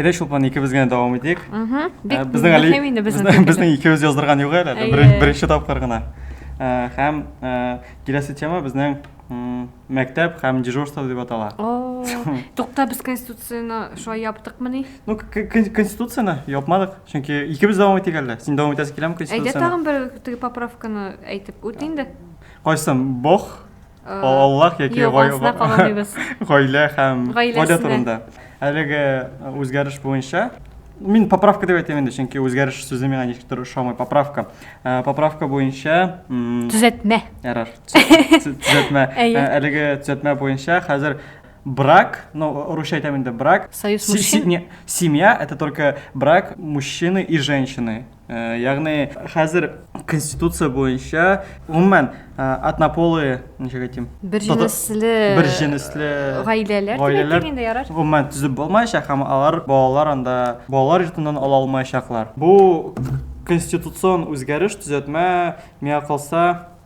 Әйдә Шулпан икебез генә дәвам итик. Угу. Бик безнең әле мөһим инде безнең. Безнең икебез яздырган юк әле, беренче тапкыр гына. Һәм киләсе тема безнең мәктәп һәм дежурство дип атала. Тукта без конституцияне шулай яптыкмы ни? Ну, конституцияне япмадык. Чөнки икебез дәвам итик әле. Син дәвам итәсе киләме конституцияне? Әйдә тагын бер теге поправканы әйтеп үт инде. Кайсын бог, Аллах яки гаилә һәм гадәт турында. Әлеге үзгәреш буенча мин поправка деп әйтәм инде, чөнки үзгәреш сүзе миңа ничектер ошамый. Поправка. Э, поправка буенча төзәтмә. Ярар. Төзәтмә. Э, әлеге төзәтмә буенча хәзер брак, ну, русча әйтәм инде, брак. Союз мужчин. Семья это только брак мужчины и женщины. Ягъни хәзер конституция буенча гомумән однополые, ничек әйтим? Бер җенесле бер җенесле гаиләләр гаиләләр инде ярар. Гомумән төзеп булмаячак һәм алар балалар анда балалар йортыннан ала алмаячаклар. Бу конституцион үзгәреш, төзәтмә, миңа калса,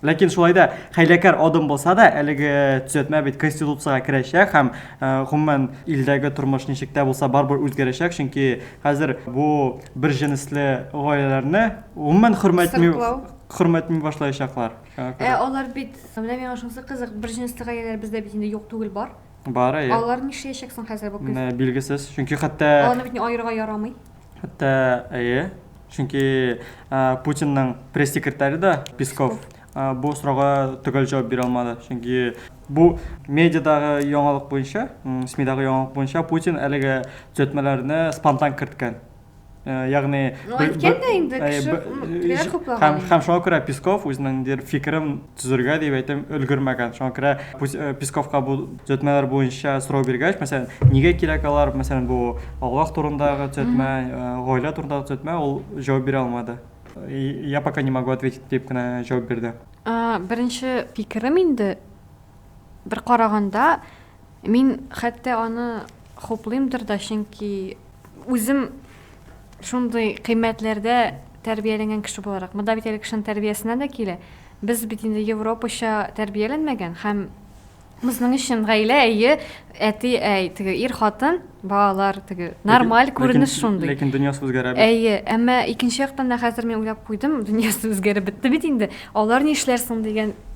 Ләкин шулай да хәйләкәр адым булса да, әлеге төзәтмә бит конституциягә керәчәк һәм э, гомумән илдәге тормыш ничек тә булса барыбер үзгәрәчәк, чөнки хәзер бу бер җенесле гаиләләрне гомумән хөрмәтми хөрмәтми башлаячаклар. Ә алар бит, менә миңа шунысы кызык, бер җенесле гаиләләр бездә бит инде юк түгел бар. Бар, әйе. Алар нишләячәк соң хәзер бу көз? Билгесез, чөнки хәтта... Аларны бит айырга ярамый. Хәтта, әйе, Чөнки Путинның пресс-секретаре да Песков бу сорауга төгәл җавап бирә алмады. Чөнки бу медиадагы яңалык буенча, СМИдагы яңалык буенча Путин әлеге төзәтмәләрне спонтан керткән. Э, ягъни ну әйткән дә инде э, кеше һәм шуңа күрә песков үзенең дер фикерен төзергә дип әйтәм, өлгермәгән. Шуңа күрә э, Песковка бу төзәтмәләр буенча сорау биргәч, мәсәлән, нигә кирәк алар, мәсәлән, бу Аллаһ турындагы төзәтмә, э, гаилә турындагы төзәтмә, ул җавап бирә алмады. Я пока не могу ответить дип кенә җавап бирде. Беренче фикерем инде бер караганда Мин хәтта аны хуплыймдыр да, чөнки үзем шундый кыйммәтләрдә тәрбияләнгән кеше буларак, монда бит әле кешенең тәрбиясеннән дә килә. Без бит инде европача тәрбияләнмәгән һәм Безнең өчен гаилә әйе, әти, әй, теге ир хатын, балалар теге нормаль күренеш шундый. Ләкин дөньясы үзгәрә бит. Әйе, әмма икенче яктан да хәзер мин уйлап куйдым, дөньясы үзгәреп бетте бит инде. Алар ни эшләр соң дигән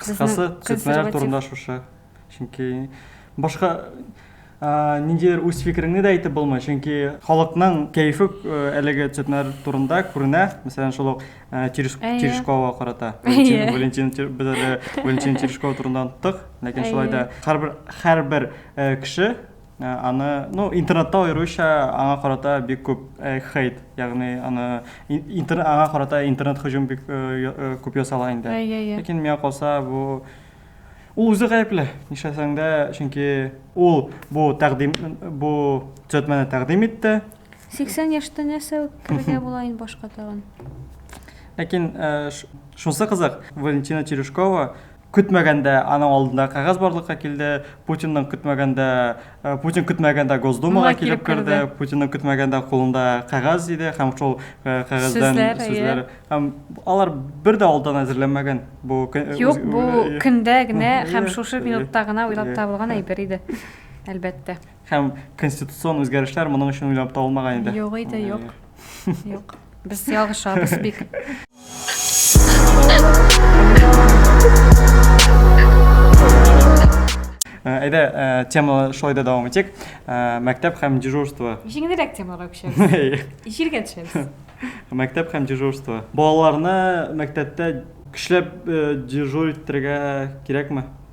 Кыскасы, цветлар турында шушы. Чөнки башка ниндидер үз фикереңне дә әйтеп булмый, чөнки халыкның кәефе әлеге цветлар турында күренә, мәсәлән, шул ук Терешковага карата. Валентин без әле Валентин Терешкова турында оныттык, ләкин шулай да һәрбер кеше Аны, ну, интернетта аеруча аңа карата бик күп хейт, ягъни аны интер аңа карата интернет һөҗүм бик күп ясала инде. Ләкин миңа калса, бу ул үзе гаепле. Нишләсәң дә, чөнки ул бу тәкъдим бу төзәтмәне тәкъдим итте. 80 яшьтә нәрсә үткәрергә була инде башка тагын. Ләкин шунысы кызык, Валентина Терешкова Көтмәгәндә аның алдында кәгазь барлыкка килде, Путинның көтмәгәндә, Путин көтмәгәндә Госдумага килеп керде, Путинның көтмәгәндә кулында кәгазь иде һәм шул кәгазьдән сүзләр. Һәм алар бер дә алдан әзерләнмәгән. Бу Юк, бу көндә генә һәм шушы минутта гына уйлап табылган әйбер иде. Әлбәттә. Һәм конституцион үзгәрешләр моның өчен уйлап табылмаган иде. Юк иде, юк. Юк. Без ялгышабыз бик. Әйдә, теманы шулай да дәвам итик. Мәктәп һәм дежурство. Җиңелрәк темаларга күчәбез. Җиргә төшәбез. Мәктәп һәм дежурство. Балаларны мәктәптә көчләп дежур иттерергә кирәкме?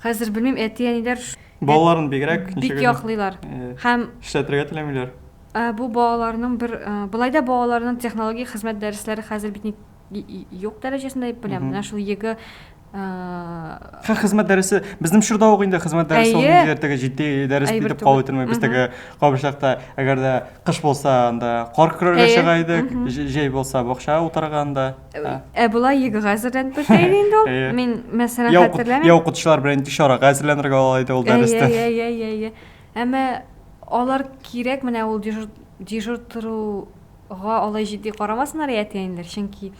Хәзер белмим, әти-әниләр балаларын бигрәк бик яклыйлар һәм эшләтергә теләмиләр. Бу балаларның бер былай да балаларның технологик хезмәт дәресләре хәзер бит юк дәрәҗәсендә дип беләм. Менә шул егэ Хә хезмәт дәресе безнең чорда ук инде хезмәт дәресе ул инде теге җитди дәрес дип кабул ителми. Без теге кабышлыкта әгәр дә кыш булса анда кар көрәргә чыга идек, җәй булса бакча утырганда. Ә болай егэ хәзерләнеп беткән иде инде ул. Әйе. Мин мәсәлән Я уку- хәтерләмим. я укытучылар белән ничек чарага әзерләнергә ала иде ул Әйе, дәрестә. әйе, әйе, әйе. Әмма алар кирәк менә ул дежур, дежур торуга алай җитди карамасыннар иде әтиәниләр, чөнки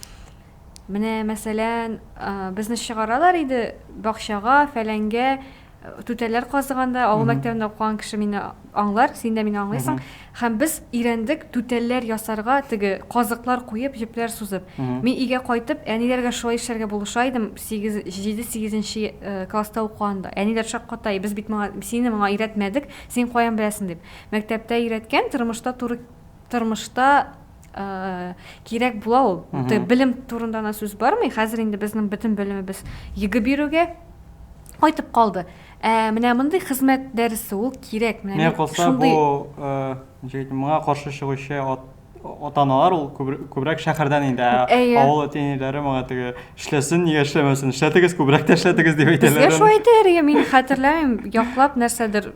менә мәсәлән, а, безне чыгаралар иде бакчага, фәләнгә, Түтәлләр казыганда, авыл мәктәбендә укыган кеше мине аңлар, син дә мине аңлыйсың. Һәм без өйрәндек түтәлләр ясарга, теге казыклар куеп, җепләр сузып. Мин өйгә кайтып, әниләргә шулай эшләргә булыша идем, сигез, җиде-сигез нче класста укыганда. Әниләр шакката, без бит моңа, сине моңа өйрәтмәдек, син каян беләсең, дип. Мәктәптә өйрәткән, тормышта туры, тормышта. ә, кирәк була ул Ты, белем турында гына сүз бармый хәзер инде безнең бөтен белемебез йөге бирүгә кайтып калды ә, менә мондый хезмәт дәресе ул кирәк менә миңа калса шундый... бу ә, ничек моңа каршы чыгучы ат, ата аналар ул күбрәк шәһәрдән инде ә, ә, авыл әти әниләре моңа теге эшләсен нигә эшләмәсен эшләтегез күбрәк тә эшләтегез дип әйтәләр безгә шулай әйтәләр мин хәтерләмим яклап нәрсәдер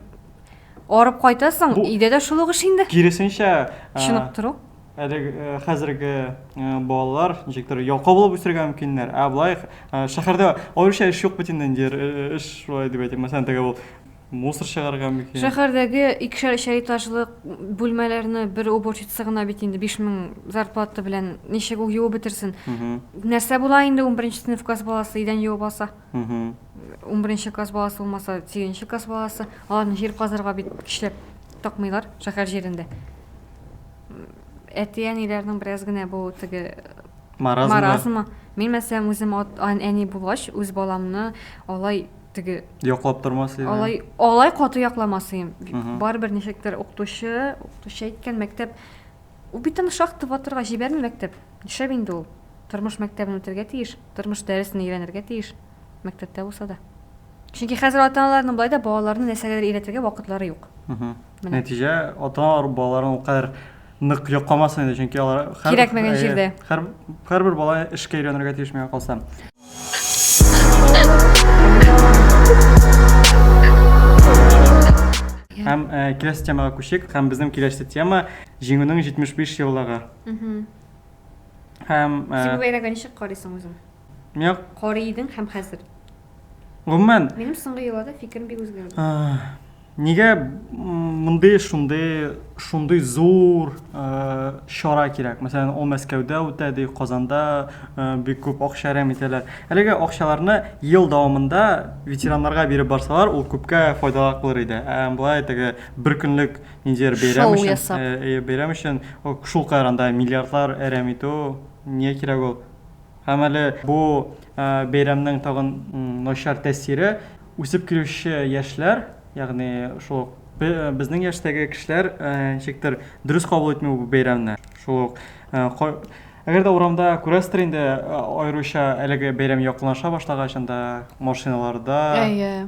Арып кайтасың, Бу- өйдә дә шул ук эш инде. Киресенчә, ә, Чыныктыру. әле ә, хәзерге ә, балалар ничектер ялкау булып үсергә мөмкиннәр. Ә болай ә, шәһәрдә аеруча эш юк бит инде инде эр- э, эш шулай дип әйтим. Мәсәлән, теге ул мусор чыгарырга мөмкин. Шәһәрдәге икешәр-өчәр этажлы бүлмәләрне бер уборщица гына бит инде 5000 зарплата белән ничек ул юып бетерсен? Мгм. Нәрсә була инде 11 нче сыйныф класс баласы идән юып алса? Унберенче класс баласы булмаса, сигезенче класс баласы. Аларны җир казырга бит көчләп такмыйлар шәһәр җирендә. Әти-әниләрнең бераз генә бу теге маразмы. маразмы. Мин мәсәлән үзем әни булгач, үз баламны алай теге яклап тормас идем. Алай алай каты якламас идем. Барыбер ничектер укытучы, укытучы әйткән мәктәп ул бит аны шахта батырга җибәрми мәктәп. Нишләп инде ул? Тормыш мәктәбен үтәргә тиеш, тормыш дәресен өйрәнергә тиеш, мәктәптә булса да. Чөнки хәзер ата-аналарның болай да балаларны нәрсәгәдер өйрәтергә вакытлары юк. Менә. Нәтиҗә, ата-аналар балаларын ул кадәр нык йокламасын инде, чөнки алар һәр Кирәкмәгән җирдә. Һәр, һәрбер бала эшкә өйрәнергә тиеш миңа калса. Һәм киләсе темага күчик, һәм безнең киләсе тема, Җиңүнең 75 еллыгы. Һәм э, Син бәйрәгә ничек карыйсың үзең? Мин карый идең һәм хәзер. Гомумән, минем соңгы елларда фикерем бик үзгәрде. Э, нигә мондый шундый шундый зур э, чара кирәк? Мәсәлән, ул Мәскәүдә үтә ди, Казанда бик күп акча әрәм итәләр. Әлеге акчаларны ел дәвамында ветераннарга биреп барсалар, ул күпкә файдалырак булыр иде. Ә болай теге бер көнлек Ниндидер бәйрәм Шоу өчен, ясап. э, э, бәйрәм өчен о, шул кадәр анда миллиардлар әрәм итү, нигә кирәк ул? Һәм әле бу э, бәйрәмнең тагын м, начар тәэсире үсеп килүче яшьләр, ягъни шул ук бе- э, безнең яшьтәге кешеләр э, ничектер дөрес кабул итми бу бәйрәмне. Шул ук э, ка- әгәр дә урамда күрәсездер инде, э, аеруча әлеге бәйрәм якынлаша башлагач, анда машиналарда Әйе.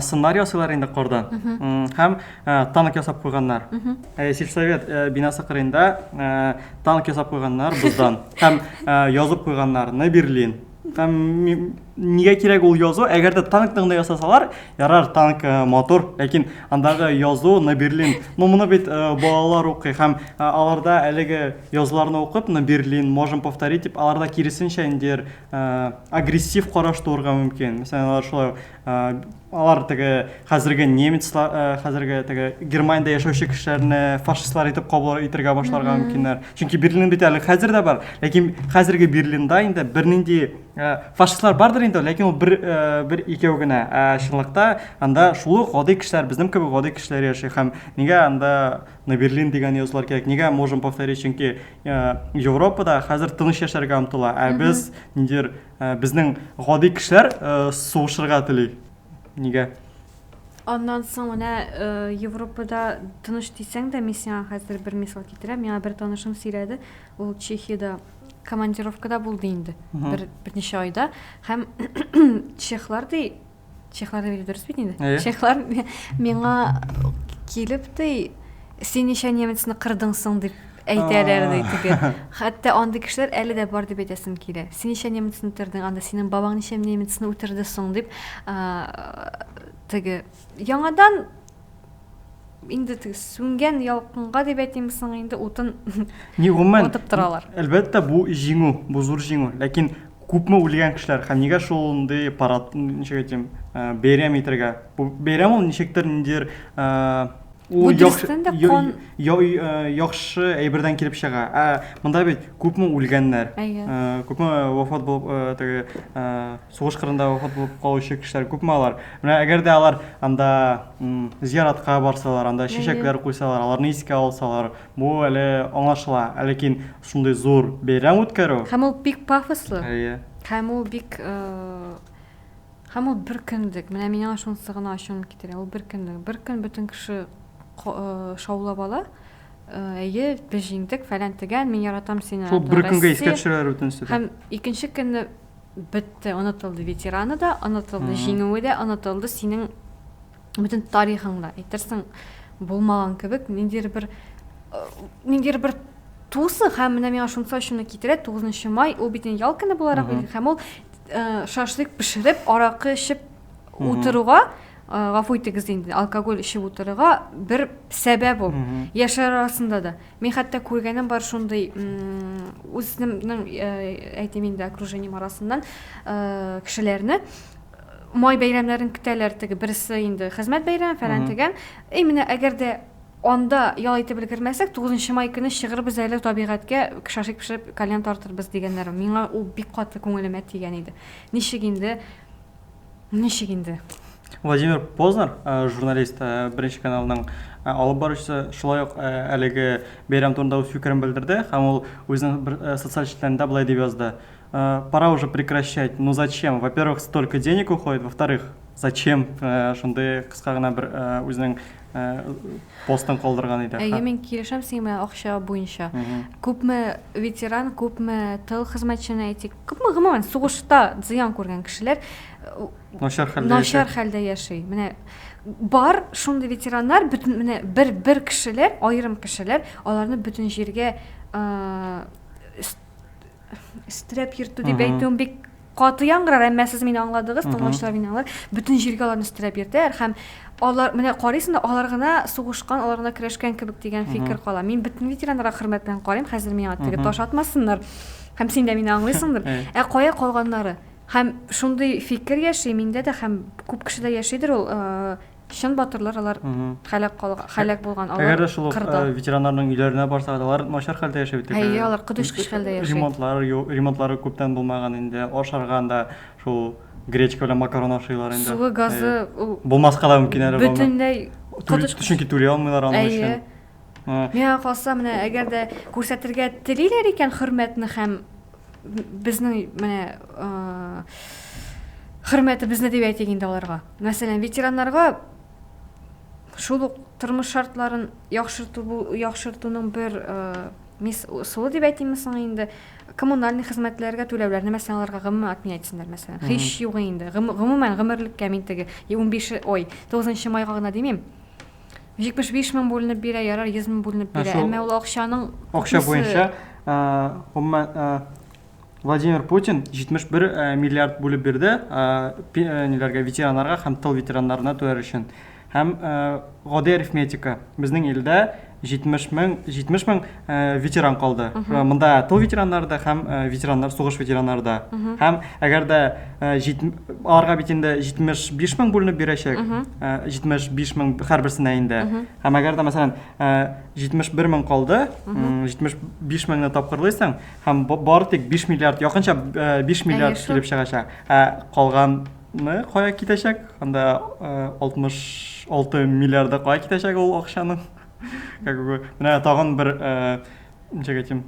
сыннар ясыйлар инде кордан һәм танк ясап куйганнар сельсовет бинасы кырыенда танк ясап куйганнар боздан һәм язып куйганнар на берлин һәм нигә кирәк ул язу әгәр дә танктың да ясасалар ярар танк мотор ләкин андагы язу на берлин ну моны бит балалар укый һәм аларда әлеге язуларны укып на берлин можем повторить дип аларда киресенчә индер агрессив караш туырга мөмкин. Мәсәлән, алар шулай алар теге хәзерге немецлар, хәзерге теге Германиядә яшәүче кешеләрне фашистлар итеп кабул итәргә башларга мөмкиннәр. Чөнки Берлин бит әле хәзер дә бар, ләкин хәзерге Берлинда инде бернинди фашистлар бардыр инде, ләкин ул бер бер икәү генә. Ә чынлыкта анда шул гади кешеләр, безнең кебек гади кешеләр яши һәм нигә анда на берлин дигән язулар кирәк нигә можем повторить чөнки э, европада хәзер тыныч яшәргә омтыла ә без ниндидер э, безнең гади кешеләр э, сугышырга тели нигә Аннан соң менә э, Европада тыныш дисәң дә, мин сиңа хәзер бер мисал китерәм. Миңа бер танышым сөйләде, ул Чехиядә командировкада булды инде. Бер берничә айда һәм чехлар ди чехлар дип дөрес бит инде э? чехлар миңа килеп ди син ничә немецны кырдың соң дип әйтәләр ди теге хәтта андый кешеләр әле дә бар дип әйтәсем килә син ничә немецны үтердең анда синең бабаң ничә немецны үтерде соң дип теге яңадан инде теге сүнгән ялкынга дип әйтимме соң инде утын Ни гомумән, отып торалар. Әлбәттә, бу җиңү, бу зур җиңү. Ләкин күпме үлгән кешеләр һәм нигә шундый парад, ничек әйтим, э, бәйрәм итәргә? Бу бәйрәм ул ничектер ниндидер э, Бу ул яхшы дөрестән дә я- кан- я- э, яхшы әйбердән килеп чыга. Ә монда бит күпме үлгәннәр, Әйе. э, күпме вафат булып э, теге э, Сугыш кырында вафат булып калучы кешеләр күпме алар? Менә әгәр дә алар анда зияратка барсалар, анда чәчәкләр куйсалар, аларны искә алсалар, бу әле аңлашыла. Ә ләкин шундый зур бәйрәм үткәрү. Һәм ул бик пафослы. Әйе. Һәм ул бик Һәм ул бер көнлек. Менә миңа шунысы гына ачуны китерә. Ул бер көнлек. Бер көн бөтен кеше шаулап ала. Әйе, без җиңдек, фәлән тегән, мин яратам сине. Шул бер көнгә искә төшерәләр бөтенесе дә. Һәм икенче көнне Бетте, онытылды ветераны да, онытылды җиңүе дә, онытылды синең бөтен тарихың да. Әйтерсең, булмаган кебек, ниндидер бер э, ниндидер бер тусы һәм менә миңа шунысы ачуны китерә, 9 май ул бит ял көне буларак билгеле һәм ул э, шашлык пешереп, аракы эчеп утыруга э, гафу итегез инде, алкоголь эчеп утыруга бер сәбәп ул. Яшьләр арасында да. Мин хәтта күргәнем бар шундый, үземнең, әйтим инде, окружением арасыннан кешеләрне май бәйрәмнәрен көтәләр, теге берсе инде хезмәт бәйрәме, фәлән дигән. И менә әгәр дә анда ял итеп өлгермәсәк, 9 май көне чыгырбыз әле табигатькә, шашлык пешереп, кальян тартырбыз дигәннәр. Миңа ул бик каты күңелемә тигән иде. Ничек инде Ничек инде? Владимир Познер, э, журналист, э, Беренче каналның э, алып баручысы, шулай ук әлеге бәйрәм турында үз фикерен белдерде һәм ул үзенең бер социаль челтәрендә болай дип язды. Пора уже прекращать. Ну зачем? Во-первых, столько денег уходит, во-вторых, зачем шундый кыска гына бер үзенең постын калдырган иде. Әйе, мин килешәм синең белән акча буенча. Күпме ветеран, күпме тыл хезмәтчәне әйтик, күпме гомумән сугышта зыян күргән кешеләр начар хәлдә начар хәлдә яши. Менә бар шундый ветераннар, бөтен менә бер бер кешеләр, аерым кешеләр, аларны бөтен җиргә стрәп йөртү дип әйтүем бик Каты яңгырар, әмма сез мине аңладыгыз, тыңлаучылар мине аңлар. Бөтен җиргә аларны өстерәп йөртәр һәм алар менә карыйсың да алар гына сугышкан, алар гына көрәшкән кебек дигән фикер кала. Мин бөтен ветераннарга хөрмәт белән карыйм, хәзер миңа теге таш атмасыннар. Һәм син дә мине аңлыйсыңдыр. Ә кая калганнары? Һәм шундый фикер яши миндә дә һәм күп кешедә яшидер ул, чын батырлар алар һәлак калган һәлак булган алар әгәр дә шул кырда ветераннарның өйләренә барсак алар начар хәлдә яши бит әйе алар котыш кыш хәлдә яши ремонтлар ремонтлары күптән булмаган инде ашарга анда шул гречка белән макарон ашыйлар инде суы газы ул булмаска да мөмкин әле бөтенләй чөнки түли алмыйлар аның өчен миңа калса менә әгәр дә күрсәтергә телиләр икән хөрмәтне һәм безнең менә хөрмәтебезне дип әйтик инде аларга. Мәсәлән, ветераннарга шул ук тормыш шартларын яхшырту яхшыртуның бер мис ысулы дип әйтимме соң инде коммунальный хезмәтләргә түләүләрне мәсәлән аларга гомумән отменять итсеннәр мәсәлән һич югы инде гомумән гомерлеккә мин теге унбиш ой тугызынчы майга гына димим 75 мең бүленеп бирә, ярар 100 мең бүленеп бирә. Әмма ул акчаның акча буенча гомумән Владимир Путин 71 миллиард бүлеп бирде ниләргә ветераннарга һәм тыл ветераннарына түләр өчен. Һәм гади арифметика. Безнең илдә 70 мең 70 мең Э, ветеран калды э, мында тыл ветераннары да һәм э, ветераннар сугыш ветераннары да һәм әгәр дә аларга бит инде җитмеш биш мең бүленеп бирәчәк җитмеш биш мең һәрберсенә инде һәм әгәр дә мәсәлән җитмеш бер мең калды җитмеш биш меңне тапкырлыйсың һәм бары тик биш миллиард якынча биш миллиард килеп чыгачак ә калган мы кая китәчәк анда алтмыш алты миллиарды кая китәчәк ул акчаның Как бы, менә тагын бер, ничек әйтим,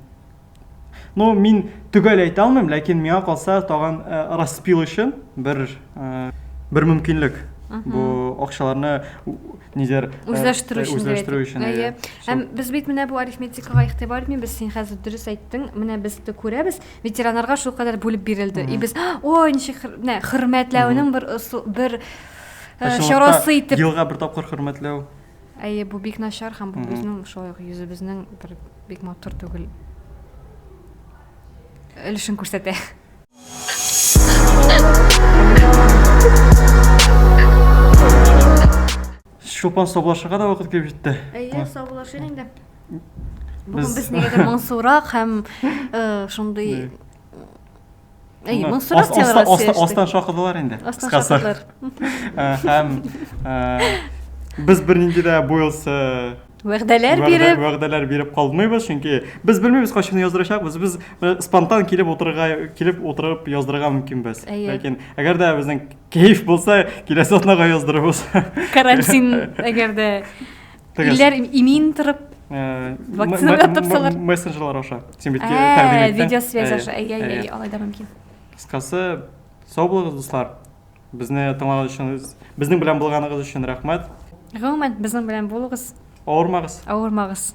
ну, мин төгәл әйтә алмыйм, ләкин миңа калса тагын распил өчен бер бер мөмкинлек. Бу акчаларны нидер үзләштерү өчен. Үзләштерү өчен. Әйе. Һәм без бит менә бу арифметикага игътибар итмибез. Син хәзер дөрес әйттең. Менә без дә күрәбез, ветераннарга шул кадәр бүлеп бирелде. И без, ой, ничек хөрмәтләүнең бер бер чарасы итеп. Елга бер тапкыр хөрмәтләү. Әйе, бу бик начар һәм бу безнең шулай ук йөзебезнең бер бик матур түгел өлешен күрсәтә. Чулпан саубулашырга да вакыт килеп җитте. Әйе, саубулашыйк инде. Бүген без нигәдер моңсурак һәм э, шундый әй моңсырак темага сөйләштек астан шакыдылар инде астан шакыдылар һәм без бернинди дә бу елсы вәгъдәләр биреп вәгъдәләр биреп калмыйбыз чөнки без белмибез кайчан яздырачакбыз без э, спонтан килеп утырырга килеп утырып яздырырга мөмкинбез ләкин әгәр дә безнең кәеф булса киләсе атнага яздырырбыз карантин әгәр дә Тегез. Илләр имин торып э, вакцинага тапсалар. Мессенджерлар аша. Син бит тәкъдим иттең. Видеосвязь аша. Әйе, әйе, алай да мөмкин. Кыскасы, сау булыгыз, дуслар. Безне тыңлаган өчен, безнең белән булганыгыз өчен рәхмәт. Гомумән, безнең белән булыгыз. Авырмагыз. Авырмагыз.